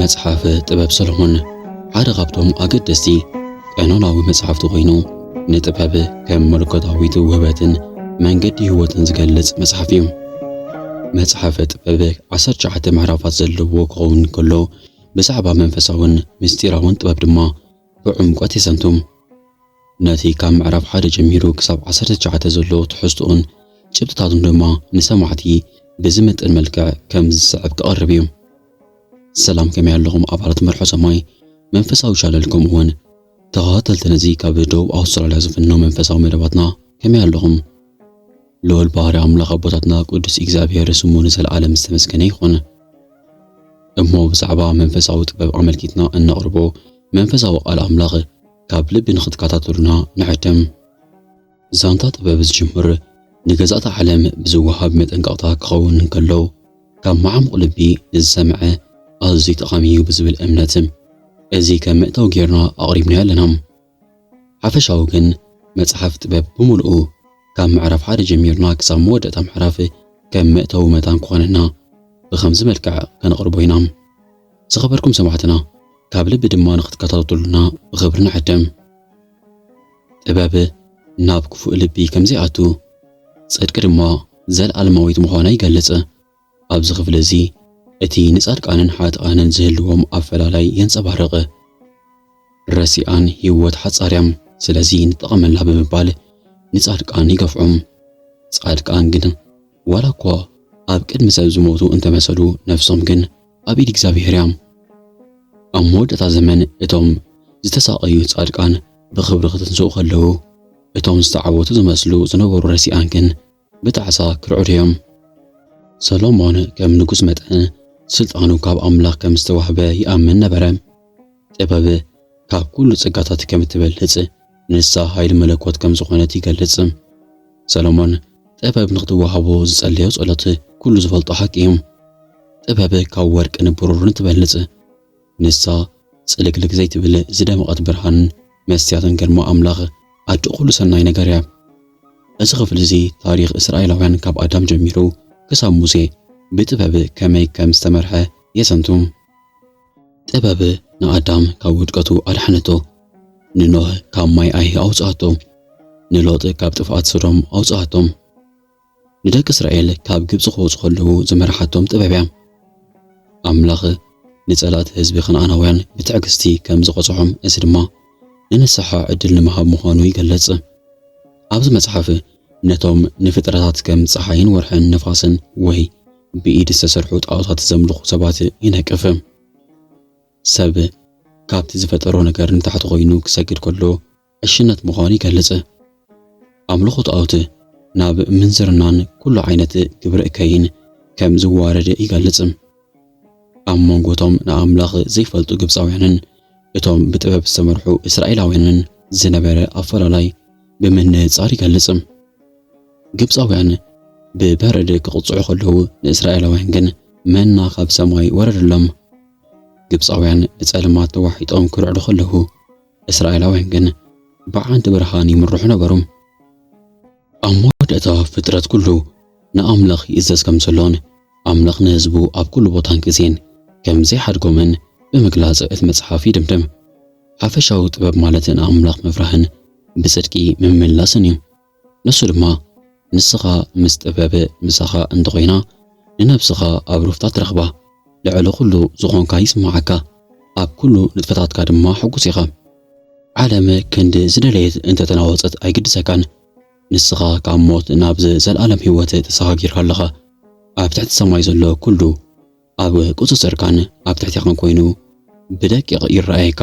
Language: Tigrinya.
መጽሓፍ ጥበብ ሰሎሞን ሓደ ካብቶም ኣገደስቲ ቀኖናዊ መጽሓፍቲ ኮይኑ ንጥበብ ከም መለኮታዊት ውህበትን መንገዲ ህይወትን ዝገልጽ መጽሓፍ እዩ። መጽሓፈ ጥበብ 19 ምዕራፋት ዘለዎ ክኸውን ከሎ ብዛዕባ መንፈሳውን ምስጢራውን ጥበብ ድማ ብዕምቈት የዘንቱ። ነቲ ካብ ምዕራፍ ሓደ ጀሚሩ ክሳብ ዓሰርተ ትሽዓተ ዘሎ ትሕዝቶኡን ጭብጥታቱን ድማ ንሰማዕቲ ብዝምጥን መልክዕ ከምዚ ዝስዕብ ክቐርብ እዩ። ሰላም ከመይ ኣለኹም ኣባላት መርሖ ሰማይ መንፈሳዊ ቻነል ከምኡውን ተኸታተልቲ ነዚ ካብ ደቡብ ኣውስትራልያ ዝፍኖ መንፈሳዊ መደባትና ከመይ ኣለኹም? ልዑል ባህሪ ኣምላኽ ኣቦታትና ቅዱስ እግዚኣብሔር ስሙ ንዘለዓለም ዝተመስገነ ይኹን። እሞ ብዛዕባ መንፈሳዊ ጥበብ ኣመልኪትና እነቕርቦ መንፈሳዊ ቃል ኣምላኽ ካብ ልቢ ንኽትከታተሉና ንዕድም። ዛንታ ጥበብ ዝጅምር ንገዛእቲ ዓለም ብዝወሃብ መጠንቀቕታ ክኸውን እንከሎ ካብ መዓሙቕ ልቢ ንዝሰምዐ ኣዝዩ ጠቓሚ እዩ ብዝብል እምነት እዚ ከም መእተዊ ጌርና ኣቕሪብናዮ ኣለና። ሓፈሻዊ ግን መጽሓፍ ጥበብ ብምሉኡ ካብ ምዕራፍ ሓደ ጀሚርና ክሳብ መወደእታ ምዕራፍ ከም መእተዊ መታን ክኾነና ብኸምዚ መልክዕ ከነቕርቦ ኢና። ዝኸበርኩም ሰማዕትና ካብ ልቢ ድማ ንክትከታተሉና ብኽብሪ ንዕድም። ጥበብ ናብ ክፉእ ልቢ ከምዘይኣቱ፣ ጽድቂ ድማ ዘልኣለማዊት ምዃና ይገልጽ። ኣብዚ ክፍሊ እዚ እቲ ንጻድቃንን ሓጥኣንን ዝህልዎም ኣፈላላይ የንጸባርቕ። ረሲኣን ህይወት ሓጻር እያ ስለዚ ንጠቐመላ ብምባል ንጻድቃን ይገፍዖም። ጻድቃን ግን ዋላ እኳ ኣብ ቅድሚ ሰብ ዝሞቱ እንተመሰሉ ነፍሶም ግን ኣብ ኢድ እግዚኣብሄር እያ። ኣብ መወዳእታ ዘመን እቶም ዝተሳቐዩ ጻድቃን ብኽብሪ ክትንስኡ ከለዉ እቶም ዝተዓወቱ ዝመስሉ ዝነበሩ ረሲኣን ግን ብጣዕሳ ክርዕዱ እዮም። ሰሎሞን ከም ንጉስ መጠን ስልጣኑ ካብ ኣምላኽ ከም ዝተዋህበ ይኣምን ነበረ። ጥበብ ካብ ኩሉ ጸጋታት ከም እትበልጽ፣ ንሳ ሓይሊ መለኮት ከም ዝኾነት ይገልጽ። ሰሎሞን ጥበብ ንኽትወሃቦ ዝጸለዮ ጸሎት ኩሉ ዝፈልጦ ሓቂ እዩ። ጥበብ ካብ ወርቅን ብሩርን ትበልጽ። ንሳ ጽልግልግ ዘይትብል ዝደመቐት ብርሃን፣ መስትያትን ግርማ ኣምላኽ፣ ኣደ ኹሉ ሰናይ ነገር እያ። እዚ ኽፍሊ እዚ ታሪኽ እስራኤላውያን ካብ ኣዳም ጀሚሩ ክሳብ ሙሴ ብጥበብ ከመይ ከም ዝተመርሐ የዘንቱ። ጥበብ ንኣዳም ካብ ውድቀቱ ኣድሓነቶ፣ ንኖህ ካብ ማይ ኣይሂ ኣውጽኣቶ፣ ንሎጥ ካብ ጥፍኣት ሶዶም ኣውጽኣቶም፣ ንደቂ እስራኤል ካብ ግብጺ ክወጹ ከለዉ ዝመርሓቶም ጥበብ እያ። ኣምላኽ ንጸላእቲ ህዝቢ ከነኣናውያን ብትዕግስቲ ከም ዝቐጽዖም እዚ ድማ ንንስሓ ዕድል ንምሃብ ምዃኑ ይገልጽ። ኣብዚ መጽሓፍ ነቶም ንፍጥረታት ከም ጸሓይን ወርሕን ንፋስን ወይ ብኢድ ዝተሰርሑ ጣኦታት ዘምልኹ ሰባት ይነቅፍ። ሰብ ካብቲ ዝፈጠሮ ነገር ንታሕቲ ኮይኑ ክሰግድ ከሎ ዕሽነት ምዃኑ ይገልጽ። ኣምልኾ ጣኦት ናብ ምንዝርናን ኩሉ ዓይነት ግብሪ እከይን ከም ዝዋረድ ይገልጽ። ኣብ መንጎ እቶም ንኣምላኽ ዘይፈልጡ ግብጻውያንን እቶም ብጥበብ ዝተመርሑ እስራኤላውያንን ዝነበረ ኣፈላላይ ብምንጻር ይገልጽ። ግብጻውያን ብበረድ ክቕጽዑ ከለዉ፣ ንእስራኤላውያን ግን መና ካብ ሰማይ ወረደሎም። ግብጻውያን ብጸልማት ተዋሒጦም ክርዕዱ ከለዉ፣ እስራኤላውያን ግን ብሓንቲ ብርሃን ይምርሑ ነበሩ። ኣብ መወዳእታ ፍጥረት ኩሉ ንኣምላኽ ይእዘዝ ከም ዘሎን ኣምላኽ ንህዝቡ ኣብ ኩሉ ቦታን ግዜን ከም ዘይሓድጎምን ብምግላጽ እቲ መጽሓፍ ይድምድም። ሓፈሻዊ ጥበብ ማለት ንኣምላኽ ምፍራህን ብጽድቂ ምምላስን እዩ። ንሱ ድማ ንስኻ ምስ ጥበብ ምሳኻ እንተኾይና ንነብስኻ ኣብ ሩፍታ ትረኽባ ልዕሊ ኩሉ ዝኾንካ ይስማዓካ ኣብ ኩሉ ንጥፈታትካ ድማ ሕጉስ ኢኻ ዓለም ክንዲ ዝደለየት እንተተናወጸት ኣይግድሰካን ንስኻ ካብ ሞት ናብ ዘልኣለም ሂወት ተሰጋጊርካ ኣለኻ ኣብ ትሕቲ ሰማይ ዘሎ ኩሉ ኣብ ቁጽጽርካን ኣብ ትሕቴኻን ኮይኑ ብደቂቕ ይረኣየካ